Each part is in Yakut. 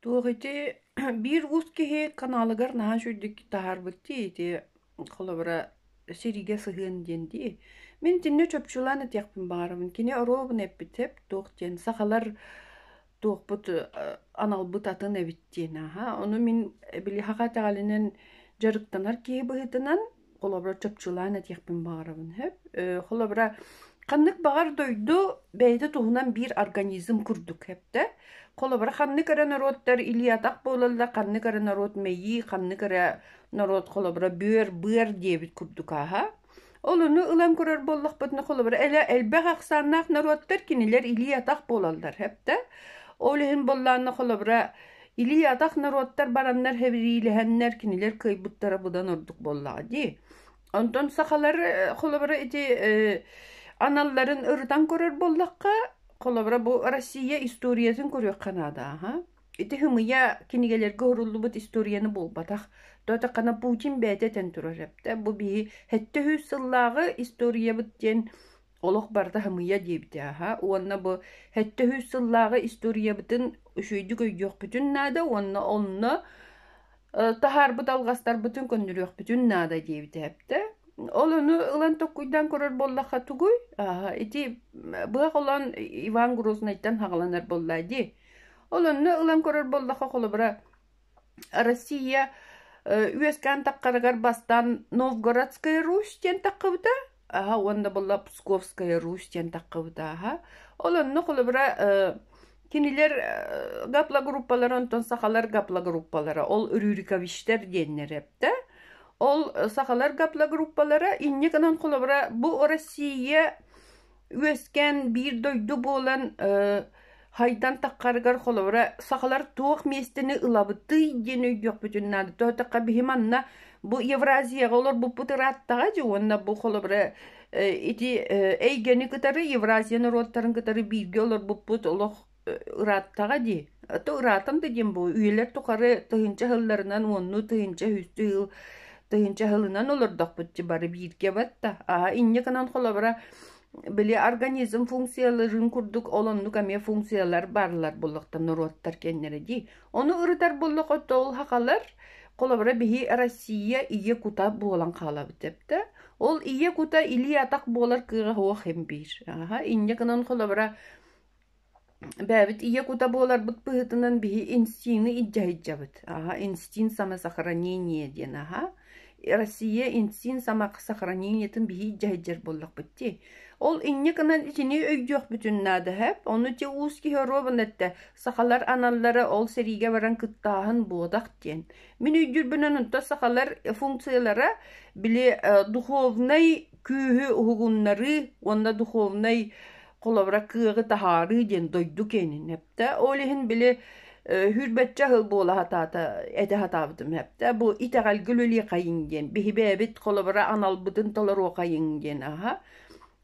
Туох ити биир уус киһи каналыгар наһаа үчүгэйдик таһаарбыт дии ити холобура сэриигэ сыһыан диэн дии. Мин итиннэ чопчулаан этиэхпин баҕарабын. Кини оруобуна эппитсэп туох диэн сахалар туохпут аналбыт атын эбит диэн ааһа. Ону мин били саха итэҕэлинэн дьарыктанар киһи быһыытынан холобура чопчулаан этиэхпин баҕарабын сөп холобура ханнык баҕар дойду бэйэтэ туһунан биир организм курдук хэптэ холобура ханнык эрэ норуоттар илиатах буолаллар ханнык эрэ норуот мэйии ханнык эрэ норуот холобура бүөр быар диэбит курдук ааһа ол ону ылан көрөр буоллахпытына холобура элбэх ахсааннаах норуоттар кинилэр илии атах буолаллар хэптэ ол иһин боллаанна холобура Илии-атах норуоттар бараннар хэбириилэһэннэр кинилэр кыайбыттара быдан ордук буоллаҕа дии. Онтон сахалар холобура ити аналларын ырытан көрөр буоллахха, холобура бу Россия историятын көрүөххэ наада аха. Ити хымыйа кинигэлэргэ уруллубут историяны буолбатах. Тоотаққана Путин бэйэтэ тен турар эптэ. Бу биһи 73 сыллааҕы историябыт диэн олох барыта хамыйа диэбитэ аһа уонна бу сэттэ сүүс сыллааҕы историябытын үчүгэйдик өйдүөхпүтүн наада уонна онно таһаарбыт алҕастарбытын көннөрүөхпүтүн наада диэбитэ эптэ ол ону ылан токкуйдаан көрөр буоллахха тугуй ити быһа холоон иван грознайтан хагаланар буоллаа дии ол онно ылан көрөр буоллахха холобура Россия үөскээн таххарыгар бастаан Новгородская Русь диэн таххыбыта, аһа уонна буолла Псковская Русь диэн таххыбыта аһа. Ол онно холобура кинилэр гаплагруппалара онтон сахалар гаплагруппалара ол рюриковичтар диэннэр эптэ. Ол сахалар гаплагруппалара инньэ гынан холобура бу Россия үөскээн биир дойду буолан хайдан таххарыгар холобура сахалар туох миэстэни ылабытый диэн өйдүөхпүтүн наада тоһутахха биһи манна бу Евразияҕа олорбуппут ырааттаҕа дии уонна бу холобура ити эйгэни кытары Евразия норуоттарын кытары бииргэ олорбуппут олох ырааттаҕа дии. Ата ыраатан да диэн буолуо, үйэлэр тухары тыһыынча сылларынан уоннуу тыһыынча-үстүү сыл тыһыынча сылынан олордохпут дии бары бииргэ батта. Аа инньэ гынан холобура били организм функцияларын курдук олоннук эмиэ функциялар бааллар буллахта норуоттар кэннэрэ дии. Ону ырытар буллах оттол хахалар холобура биһи Россия ийэ кута буолан хаалабыт эптэ. Ол ийэ кута илии атах буолар кыаҕа хуох хим биир. Аха инньэ гынан холобура Бэйэбит ийэ кута буоларбыт быһыытынан биһи инстиҥы илдьэһидьэбит, аһа инстинкт самосохранения диэн аһа. Россия инстинкт самосохранениетын биһи илдьэһиддьэр буоллахпыт дии. Ол инньэ гынан итини өйдүөхпүтүн наадыһап. Ону ити уус киһи оруобун этте, сахалар аналлара ол сэриигэ баран кыттааһын буодах диэн. Мин өйдүүрбүнэн онто сахалар функциялара били духовнай күүһү уһугуннарыы уонна духовнай холобура кыаҕы таһаарыы диэн дойду киэнин эптэ. Ол иһин били хүрбэччэ сыл буола сатаата этэ сатаабытым эптэ. Бу итэҕэлгэ үлэлиэхэйиҥ диэн биһибээбит холобура аналбытын толоруохайыҥ диэн аһа.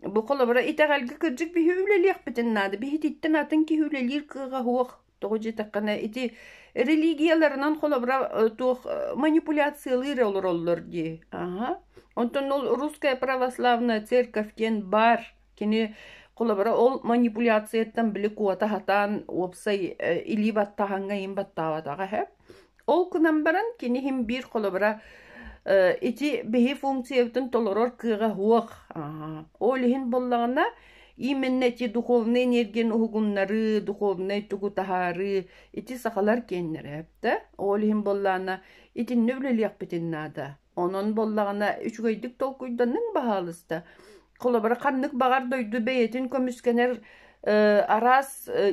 Бу холобура итэҕэлгэ кырдьык биһи үлэлиэхпитин наада. Биһититтэн атын киһи үлэлиир кыаҕа суох. Тоҕо диэтэххинэ, ити религияларынан холобура туох манипуляциялыыр олороллор дии. Аха. Онтон ол русская православная церковь диэн баар. Кини холобура ол манипуляцияттан били куота хатаан уопсай илии баттаһаҥҥа иин баттаабатаҕа үһү. Ол гынан баран кини иһин биир холобура э, ити биһи функциябытын толорор кыаҕа суох. Ол иһин буоллаҕына именно ити духовнай энергияны уһугуннарыы, духовнай тугу таһаарыы ити сахалар киэннэрэ эбитэ. Ол иһин буоллаана итиннэ үлэлиэхпитин наада. Онон буоллаҕына үчүгэйдик толкуйданныҥ баһаалыста. Холобура ханнык баҕар дойду бэйэтин көмүскэнэр араас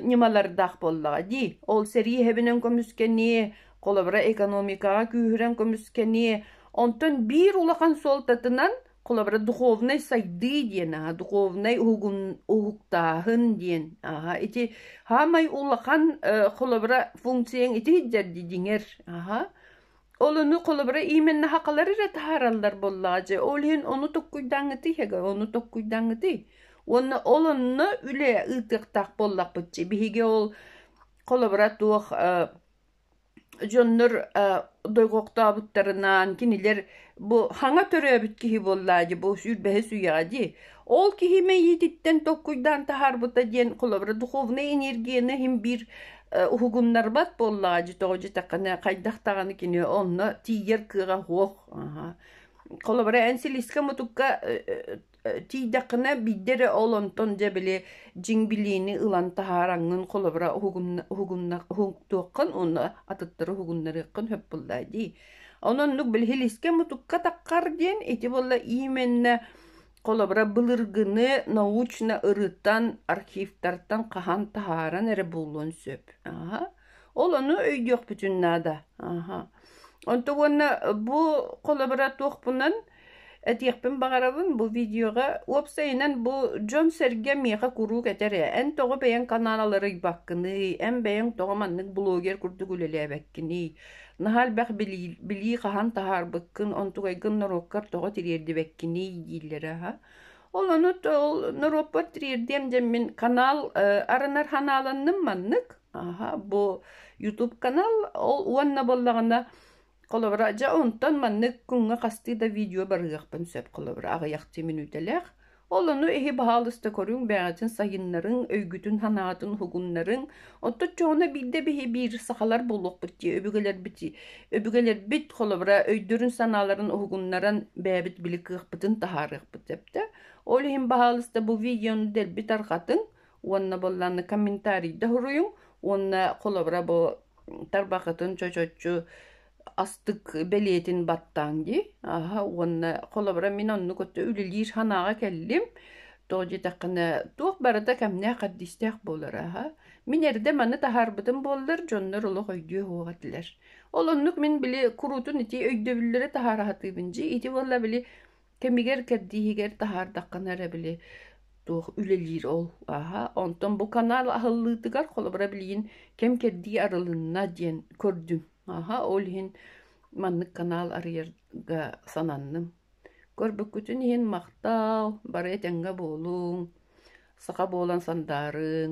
ньымалардаах буоллаҕа дии. Ол сэрии иһэбинэн көмүскэни, холобура экономикаҕа күүһүрэн көмүскэни, онтон биир улахан суолтатынан холобура духовнай сайдыы диэн аха духовнай уһугун уһуктааһын диэн аха ити хаамай улахан холобура функцияң ити дьэрди диҥэр аха Олону холобура иименна хақалар ира тахараллар боллаажы, ол иһин ону tokkуйдаңытыйхага ону tokkуйдаңытый уонна ол онно үлэ ыытыктах боллакпытчы биһиги ол холобура туох дьоннор дойгоктообуттарынаан кинилэр бу хаҥа төрөөбүт киһи боллаажы бу сүүрбэһис үйэҕэ дии Ол киһи мэйиититтэн tokkуйдаан таһаарбыта диэн холобура духовнай энергияны иһин биир уһугуннарбат буоллаҕа дьи тоҕо дьитэххинэ хайдах даҕаны кини онно тиийэр кыаҕа суох холобура эн силискэ-мутукка тиийдэххинэ бидде эрэ ол онтон дьэ били дьиҥ билиини ылан таһаараҥҥын холобура уһугуннахтуоххун уонна атыттары уһугуннарыаххын сөп буллаа дии он оннук били силискэ-мутукка таххар диэн ити буолла иименнэ Холобура, былыргыны научно ырыттан, архивтартан хаһан таһааран эрэ булуон сөп. Аһа. Ол ону өйдүөхпүтүн наада. Аһа. Онто уонна бу холобура туохпунан этиэхпин баҕарабын бу видеоға. Уопсайынан бу дьон сэргэ миэхэ куруук этэрэ. Эн тоҕо бэйэҥ канаалары ыйбаккыный? Эн бэйэҥ тоҕо маннык блогер курдук үлэлээбэккиний? Наһаа элбэх билии, билии хаһан таһаарбыккын, онтугайгын норуоккар тоҕо тириэрдибэккиний дииллэрэ аһа. Ол ону ол норуоппар тириэрдиэм дэммин канал арынар ханааланным маннык. Аха бу YouTube канал ол уонна боллаҕына холобура дьэ онтон маннык күҥҥэ хастыы да видео барыахпын сөп холобура аҕыйахчы мүнүүтэлээх Ол ону иһи баһаалыста көрүҥ, бэҕэчин сайыннарыҥ, өйгүтүн-санаатын уһугуннарыҥ. Оттон дьоҕуна биирдэ биһи биир сахалар буолуохпут дии, өбүгэлэрбит өбүгэлэрбит холобура өйдөрүн-санааларын уһугуннаран бэйэбит били кыахпытын таһаарыахпыт сөптөөх. Ол иһин баһаалыста бу видеону дэлби тарҕатыҥ уонна буоллаанна комментарийда суруйуҥ уонна холобура бу тарбахытын чочочу астык бэлиэтин баттааҥ дии аһа уонна холобура мин оннук өттө үлэлиир санааҕа кэллим тоҕо диэтэххинэ туох барыта кэмнээх хардистээх буолара аһа мин эрдэ маны таһаарбытым буоллар дьоннор олох өйдүө суох этилэр ол оннук мин били куруутун ити өйдөбүллэри таһаара сатыыбын дии ити буолла били кэмигэр кэрдииһигэр таһаардаххына эрэ били туох үлэлиир ол аһа онтон бу канал аһыллыытыгар холобура билигин кэм кэрдии арылынна диэн көрдүм Аха, ол иһин маннык канал арыйарга сананным. Көрбүккүтүн иһин махтал, бары этэҥҥэ буолуҥ, саха буолан сандаарыҥ